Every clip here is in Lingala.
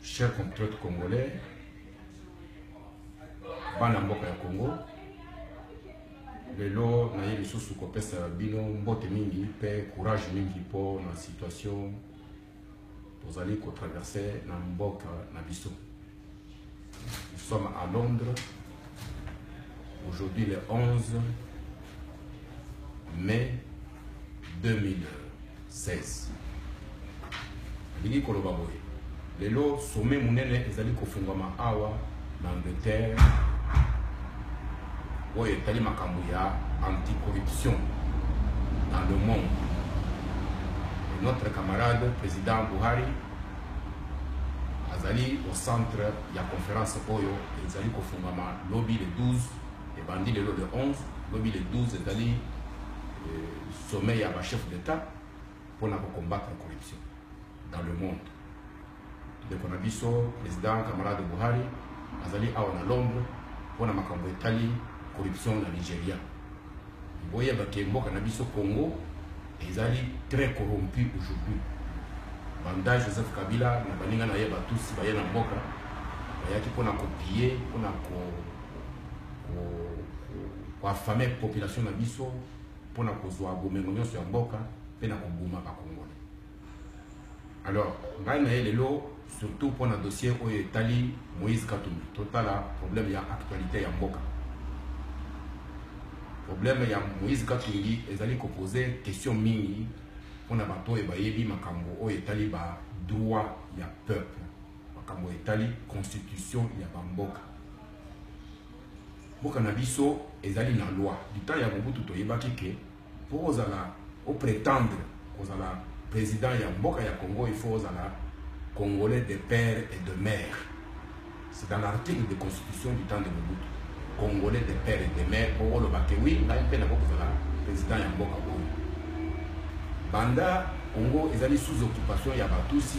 Chers compatriotes congolais, bana mboka ya Congo, lelo naye lisusu kopesa bino mbote mingi mpe courage mingi mpo na situation tozali kotraverse na mboka na biso. Nous sommes à Londres. Aujourd'hui, le 11 mai 2016. Lili koloba boye. Lelo sommet munene ezali kofungwama awa na Angleterre oyo etali makambo ya anticorruption dans le monde. Et notre camarade président Buhari Azali au centre ya conference oyo ezali kofungama lobi le 12, ebandi lelo le 11, lobi le 12 ezali euh, sommet ya ba chef d'etat pona ko combattre corruption dans le monde. Ndeko na biso president camarade Buhari azali awa na Londres pona makambo etali corruption na Nigeria. Boyeba ke mboka na biso Congo ezali très corrompu aujourd'hui. Banda Joseph Kabila na baninga na ye ba Tutsi baye na mboka bayaki pona ko piller, pona ko ko ko affamer population na biso, pona kozua bomengo nionso ya mboka pe na koboma ba Congolais. alors ngai na ye lelo surtout mpo na dossier oyo etali moïse katumbi totala problème ya actualité ya mboka problème ya moïse katumbi ezali kopose question mingi mpo na bato oyo bayebi makambo oyo etali ba droit ya peuple makambo etali constitution ya bamboka mboka na biso ezali na loi du temps ya mobutu toyebaki ke Pour kozala o pretendre kozala president ya mboka ya Congo il faut ozala congolais de père et de mère. C'est dans l'article de constitution du temps de Mobutu. Congolais de père et de mère pour oloba que oui ngai mpe nako kozala president ya mboka oyo. Banda Congo ezali sous occupation ya Batusi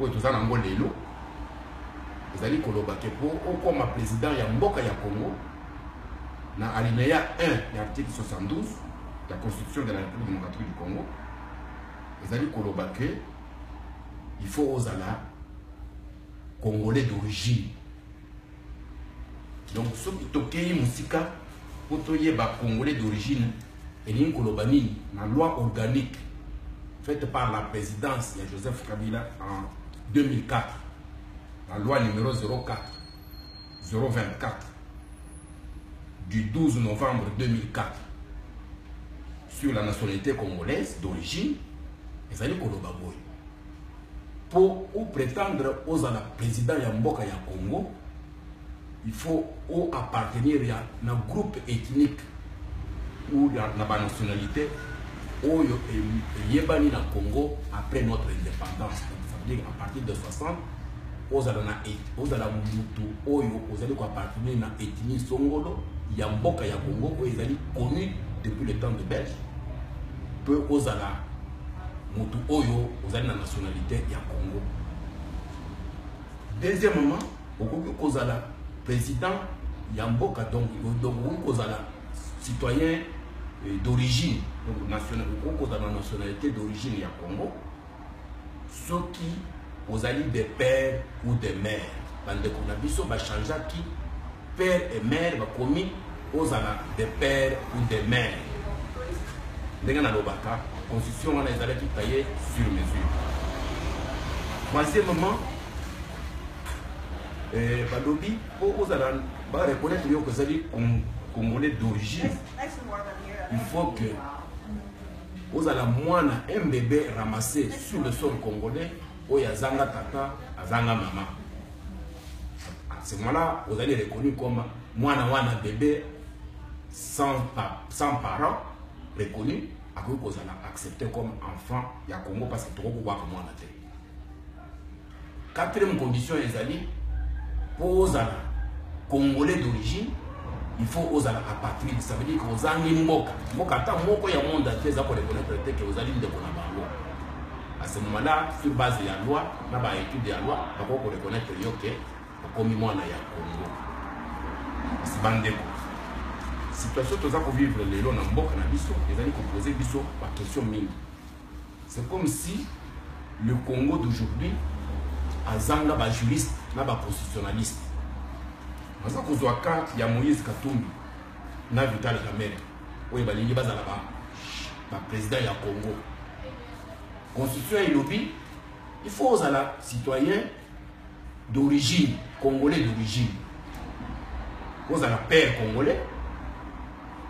oyo toza na yango lelo ezali koloba ke mpo okoma président ya mboka ya congo na alinéa 1 ya article 72 ya constitution de la république démocratique du congo ezali koloba ke il faut ozala congolais d'origine donc soki tokei mosika mpo toyeba congolais d'origine elingi koloba nini na loi organique faite par la présidence ya joseph kabila en 2004 la loi numéro 04 024 du 12 novembre 2004 sur la nationalité congolaise d'origine ezali koloba boye mpo o pretendre ozala président ya mboka ya congo il faut o appartenir ya na groupe ethnique ou na banationalité oyo eyebani na congo après notre indépendance donc ça veut dire à partir de 60 ozala na ozala mutu oyo ozali koappartenir na ethnie songolo ya mboka ya congo oyo ezali connu depuis le temps de belge mpe ozala mutu oyo ozali na nationalité ya Congo deuxièmement okoki kozala président ya mboka donc okoki kozala citoyen euh, d'origine donc national okoki kozala na nationalité d'origine ya Congo soki ozali de père ou de mère bandeko na biso bachangeaki père et mère bakomi ozala de père ou de mère ndenge nalobaka constitution wana ezalaki taille sur mesure troisièmement eh, balobi mpo ozala bareconnaitre yo kozali congolais d'origine il faut que ozala mwana un bébé ramassé sur le sol congolais oyo azanga tata azanga mama à ce moment là ozali reconnu comme mwana wana bebe sans, sans parent reconnu akoki kozala accepté comme enfant ya congo parce que tokoki kobwaka mwana te quatrième condition ezali mpo ozala congolais d'origine il faut ozala apatride ça veut dire que ozangi mboka mboka ata moko ya monde ate eza koreconnaître te ke ozali ndeko na bango À ce moment-là, sur base ya loi, na ba études ya loi, bako ko reconnaître yo que okomi mwana ya Congo. Kasi bandeko, situation toza ko vivre lelo na mboka na biso ezali ko poser biso ba questions mingi. C'est comme si le Congo d'aujourd'hui azanga ba juristes na ba constitutionnalistes. Naza kozwa cas ya Moïse Katumbi na Vital Kamerhe oyo balingi bazala ba ba président ya Congo constitution elobi il faut ozala citoyen d'origine congolais d'origine ozala père congolais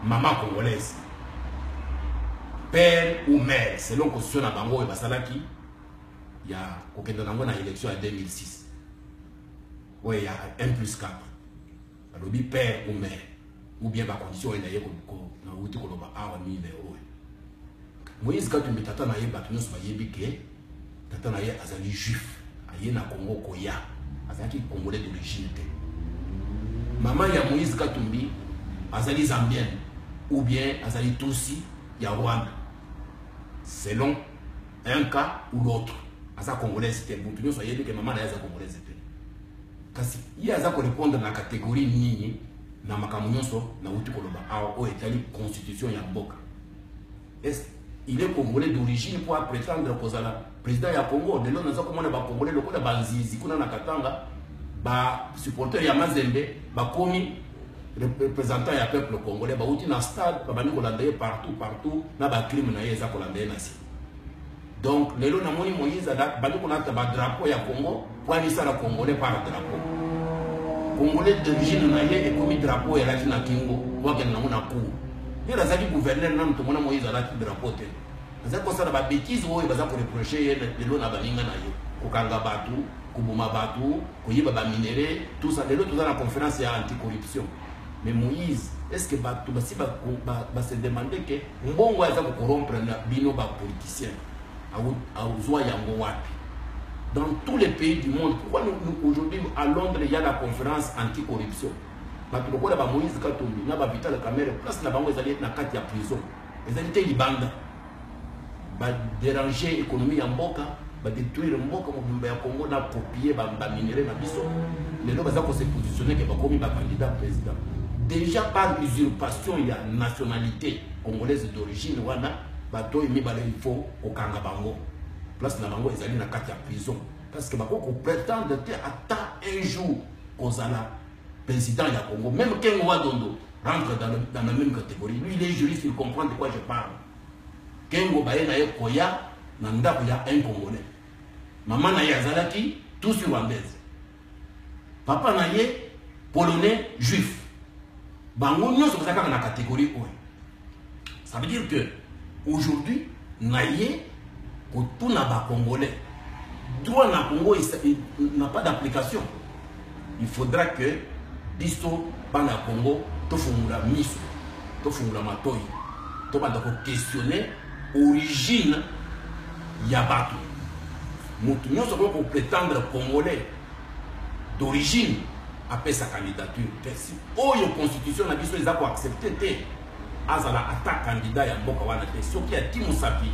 maman congolaise père ou mère selon constitution na bango oyo basalaki ya kokenda nango na élection ya 2006 oyo ya 1 plus 4 alobi père ou mère ou bien bacondition oyo naye nauti koloba awa mine oyo moïse katumbi tata na ye bato nyonso bayebi ke tata na ye azali juif aye na congo koya azalaki congolais d'origine te mama ya moïse katumbi azali zambienne ou bien azali tusi ya rwanda selon un cas ou l'autre aza congolaise te moto nyonso ayebi ke mama na ye aza congolaise te kasi ye aza korepondre na kategorie nini na makambo nyonso nauti koloba awa oyo etali constitution ya mboka est il est congolais d'origine mpo apretendre kozala président ya congo lelo naza komona bacongolais lokola banzizi kuna na katanga basupporter ya mazembe bakomi représentant ya peuple congolais bauti na stade babandi kolanda ye partout partout na bacrime na ye eza kolanda ye na nsima Donc lelo namoni Moïse abandi kolata ba drapeau ya Congo po amisala congolais par drapeau. Congolais d'origine na ye ekomi drapeau ya lati na kingo po akende nango na cour. Lelo azali gouverneur nanu tomona Moïse alati drapeau te. Azali kosala ba bêtises oyo baza koreproche ye lelo na baninga na ye kokanga bato koboma bato koyiba ba minerais tout ça lelo toza na conférence ya anticorruption mais Moïse est-ce que bato basi base demande ke mbongo aza kokorompre na bino bapoliticien auzwa yango wapi dans tous les pays du monde pourquoi nous, nous, aujourd'hui à londres il y a la conférence anticorruption bato lokola bamoïse katumbi na bavital camere place na bango ezali na kati ya prison ezali te libanda ba deranger économie ya mboka ba détruire mboka mobimba ya Congo na copier ba, ba minerais na biso lelo baza ko se positionner que bakomi ba candidat président déjà par usurpation ya nationalité congolaise d'origine wana bato oyo mibale il faut kokanga bango place na bango ezali na kati ya prison parce que bakoki kopretendre te ata un jour kozala président ya congo même kengo wadondo rentre dans, le, dans la même catégorie lui il est juriste il comprend de quoi je parle Kengo baye na ye koya na ndaku ya un congolais. Maman na ye azalaki tusi rwandaise. Papa na ye polonais juif. Bango nionso baza kaka na categorie oyo. Ça veut dire que aujourd'hui na ye kotuna ba congolais droit na Congo n'a pas d'application. il faudra que biso bana ya congo tofungola miso tofungola matoi tobanda koquestionne origine ya bato moto nyonso akoki kopretendre congolais d'origine apesa candidature te si oyo constitution na biso eza koaccepte te azala ata kandida ya mboka wana te soki ati mosapi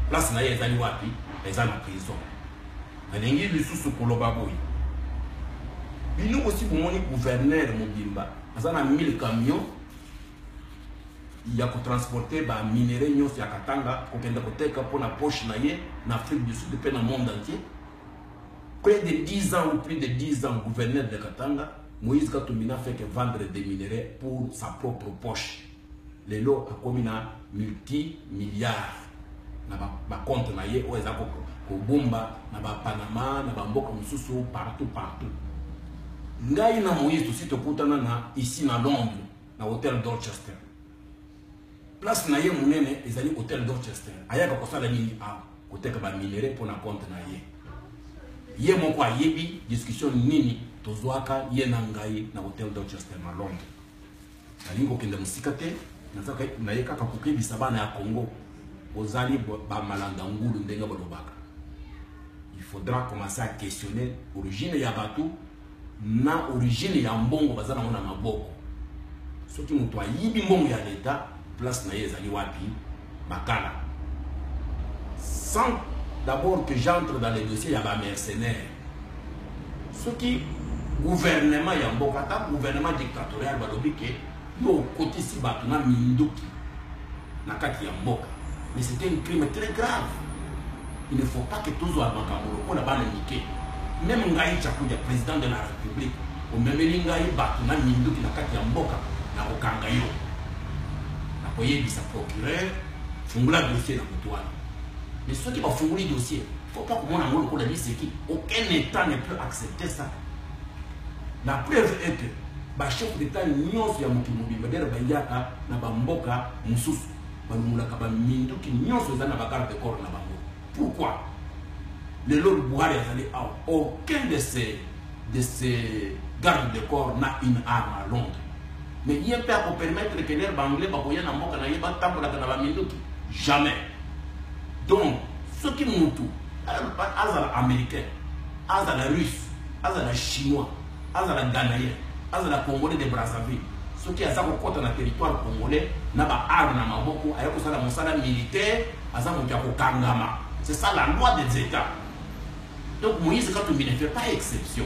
place na ye ezali wapi eza na prison Nalingi lisusu koloba boye. Bino bosi bomoni gouverneur mobimba aza na 1000 camions ya kotransporte ba minerais nyonso ya Katanga kokende koteka mpo na poche na ye na Afrique du Sud mpe na monde entier. Près de 10 ans ou plus de 10 ans, gouverneur de Katanga, Moïse Katumbi n'a fait que vendre des minerais pour sa propre poche. lelo akomi na multi milliard na ba, ba compte na ye oyo eza kobomba na ba Panama na ba mboka mosusu partout partout ngai na Moïse tosi tokutana na ici na Londres na hôtel Dorchester place na ye monene ezali hôtel Dorchester ayaka kosala nini awa koteka ba minerais mpo na compte na ye ye moko ayebi discussion nini tozwaka ye na ngai na hôtel Dorchester na Londres nalingi kokende mosika te nazaka naye kaka kokebisa bana ya congo bozali bamalanda ngulu ndenge balobaka il faudra commencer à questionner origine ya bato na origine ya mbongo baza nango na maboko soki moto ayibi mbongo ya leta place na ye ezali wapi Makala. Sans d'abord que j'entre dans les dossiers ya ba mercenaires. Soki gouvernement ya mboka ata gouvernement dictatorial balobi ke yo okotisi bato na minduki na kati ya mboka mais c'était un crime très grave Il ne faut pas que tozwa makambo lokola bana mike. Meme ngai Chakudia, président de la République, omemeli ngai bato na minduki na kati ya mboka, nakokanga yo. Nakoyebisa procureur, fungola dossier na moto wana. Mais soki bafungoli dossier, faut pas komona yango lokola liseki. Aucun état ne peut accepter ça. La preuve est que bachef d'état nyonso ya mokili mobimba dere bayaka na bamboka mosusu balongolaka baminduki nyonso eza na bagarde de corps na bango pourquoi lelo buhari azali awa aucun de ces de ces garde de corps na une arme à londres mais ye mpe akopermettre ke lere baanglais bakoya na mboka na ye batambolaka na baminduki jamais donc soki mutu azala américain azala russe azala chinois Azala Ghanaiens, azala Congolais de Brazzaville, soki aza kokota na territoire Congolais na ba armes na maboko, aye kosala mosala militaire, aza moto ya kokangama. C'est ça la loi des Etats. Donc Moïse Katumbi ne fait pas exception.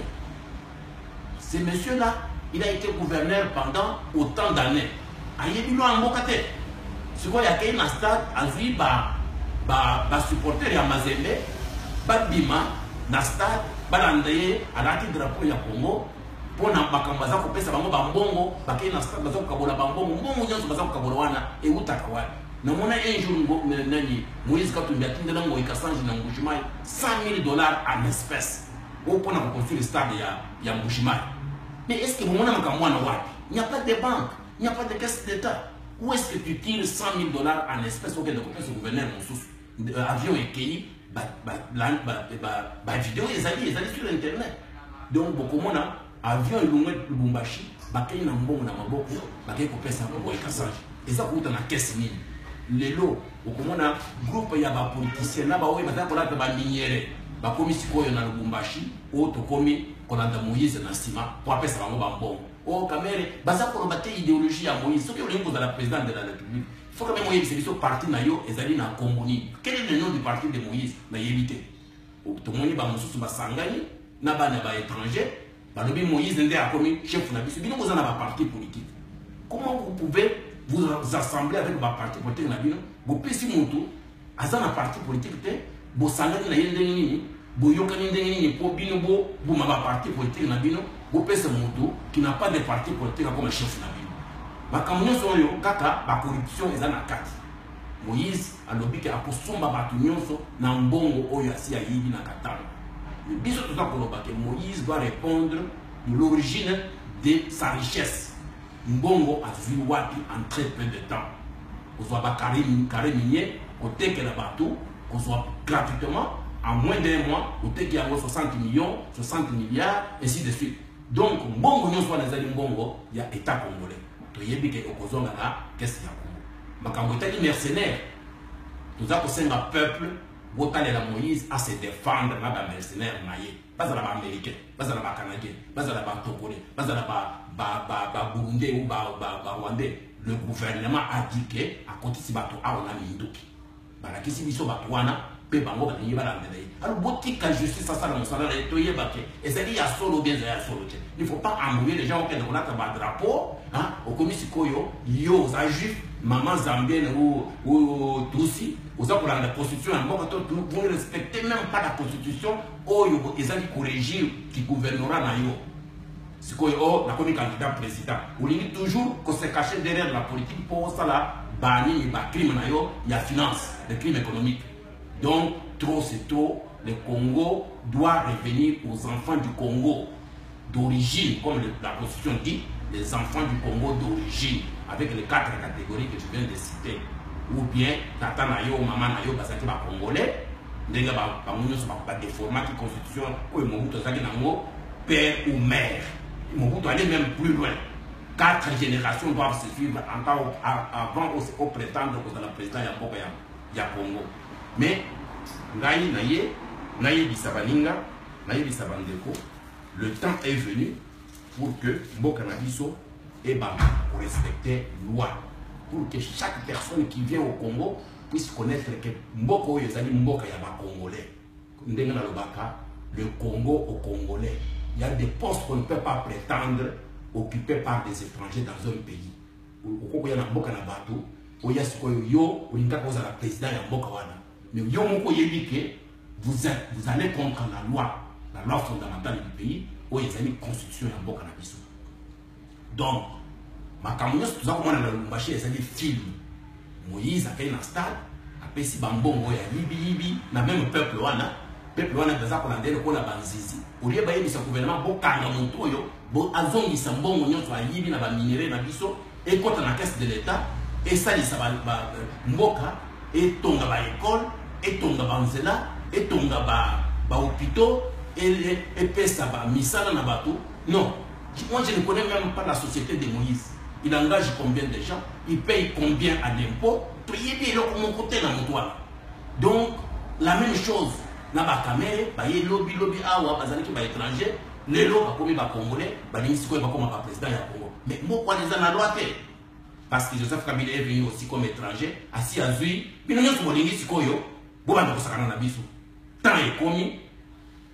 Ce monsieur-là, il a été gouverneur pendant autant d'années. Ayebi loi ya mboka te. Sikoyo akei na stade azui ba ba ba supporters ya Mazembe babima na stade balanda ye alati drapeau ya Congo mpo na makambo baza kopesa bango bambongo bakei na stade baza kokabola bambongo mbongo nyonso baza kokabola wana ewutaka wapi namona un jour nani moïse katumbi atindela ngoi kasange na mbushimai 100 000 dollars en espèce oyo mpo na koconstruire stade ya, ya mbushimai mais est ce que bomona makambo wana wapi Il n'y a pas de banque, il n'y a pas de caisse d'État. Où est-ce que tu tires 100 000 dollars en espèces auquel le copain se gouverneur mosusu euh, avion ekeyi bavideo ezali ezali sur internet donc bokomona avion elongwe lubumbashi bakei na mbongo na maboko bakei kopesa boye kasage eza kouta na kese nini lelo okomona groupe ya bapoliticien na baoyo bazali kolata baminiere bakomi sikoyo na lubumbashi oyo tokomi kolanda moise na nsima mpo apesa bango bambongo Oh Kamere, baza koloba te ideologie ya Moïse. Soki olingi kozala président de la République, il faut quand même oyebisa biso parti na yo ezali na kombo nini. Quel est le nom du parti de Moïse? Na yebi te. Tomoni ba mosusu basangani na bana ba étrangers, balobi Moïse nde akomi chef na biso. Bino boza na ba parti politique. Comment vous pouvez vous assembler avec ba parti politique na bino? Bopesi mutu aza na parti politique te bosangani na ye ndenge nini boyokani ndenge nini mpo bino boboma baparti politike na bino bopesa moto qui na pas de parti politique akoma chef na bino makambo nyonso oyo kaka bacorruption eza na kati moïse alobi ke akosomba bato nyonso na mbongo oyo asi ayibi na katanga biso toza koloba ke moïse doit répondre de l'origine de sa richesse Mbongo azui wapi en très peu de temps? Kozua ba carre minier kotekela batu kozua gratuitement en moins d'un mois oteki yango 60 millions, 60 milliards ainsi de suite. Donc mbongo nionso wana ezali mbongo ya etat congolais. Toyebi ke okozonga na caisse ya Congo. Makambo etali mercenaire toza kosenga peuple botalela Moïse a se defendre na ba mercenaires na ye. bazala ba americain bazala ba canadien bazala ba togolais bazala ba ba ba ba burundais ou ba ba ba rwandais le gouvernement a dit que akotisi bato awa na minduki balakisi biso bato wana mpe bango balingi balandela ye alo botika justice asala mosala na ye toyeba te ezali ya solo bien ezali ya solo te il faut pas embrouiller les gens okende kolata badrapeau okomi sikoyo yo oza juif mama zambienne ou tusi oza kolanda constitution ya mboka to vous ne respectez même pas la constitution oyo eza ki corrigir ki gouvernorat na yo sikoyo o oh, nakomi candidat président olingi toujours ko se cacher derrière la politique mpo osala banini bacrime na yo ya finance le crime économique donc trop c'est trop le congo doit revenir aux enfants du congo d'origine, comme le, la Constitution dit, les enfants du Congo d'origine, avec les quatre catégories que tu viens de citer, ou bien tata na yo, maman na yo, bazaki ba Congolais, ndenge bango nyonso badeformaki constitution oyo mobutu azalaki nango père ou mère mobutu allait même plus loin quatre générations doivent se suivre encore avant au prétendre kozala président ya mboka ya congo mais ngai naye nayebisa baninga nayebisa bandeko Le temps est venu pour que mboka na biso ebanda ko respecter loi pour que chaque personne qui vient au Congo puisse connaître que mboka oyo ezali mboka ya ba Congolais. Ndenge na lobaka le Congo au Congolais. Il y a des postes qu'on ne peut pas prétendre occupés par des étrangers dans un pays. Okokoya na mboka na bato oya sikoyo yo olingaka ozala président ya mboka wana mais yo moko oyebi ke Vous êtes, vous allez contre la loi, la loi fondamentale du pays, oyo ezali constitution ya mboka na biso. Donc, makambo nyonso toza komona na Lubumbashi ezali film. Moïse akei na stade, apesi bambongo ya yibiyibi na meme peuple wana peuple wana baza kolanda ye lokola banzizi olie bayebisa gouvernement bokanga moto oyo azongisa mbongo nyonso ayibi na baminerai na biso ekota na caisse de l'etat esalisa ba, ba mboka etonga ba école etonga ba nzela etonga ba ba hôpitaux epesa ba misala na bato non moi je ne connais même pas la société de Moïse il engage combien de gens il paye combien à l'impôt toyebi eloko moko te na moto wana donc la même chose na bakamere baye lobi lobi awa bazalaki baétranger Lelo bakomi ba congolais balingi sikoyo bakoma ba president ya Congo. Mais moko wana eza na loi te. Parce que Joseph Kabila est venu aussi comme étranger, asi azui bino nyonso bolingi sikoyo bobanda kosakana na biso. Temps ekomi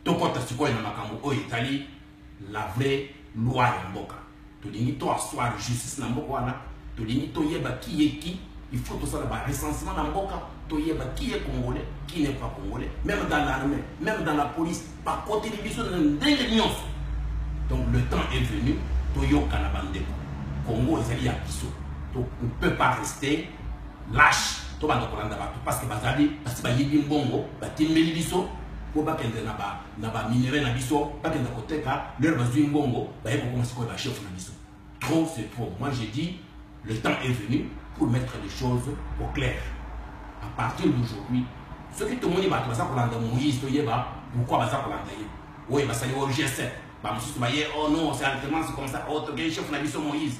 tokota sikoyo na makambo oyo etali la vraie loi ya mboka. tolingi to asseoir justice na mboka wana tolingi toyeba qui est qui il faut tosala ba recensement na mboka toyeba qui est congolais qui n'est pas congolais même dans l'armée même dans la police bakoteli biso na ndenge nyonso donc le temps est venu toyokana bandeko congo ezali ya biso to ne peut pas rester lâche tobanda kolanda bato parce que bazali basi bayibi mbongo batimbeli biso po bakende na ba na ba minerais na biso bakenda koteka leur bazui mbongo baye kokoma sikoyo ba chef na biso trop c'est trop moi j'ai dit le temps est venu pour mettre les choses au clair à partir d'aujourd'hui soki tomoni bato baza kolanda moïse toyeba pourquoi baza kolanda ye oyo basali o g7 bamosusu baye oh non c'est alternance comme ça oyo oh, tokei chef na biso moïse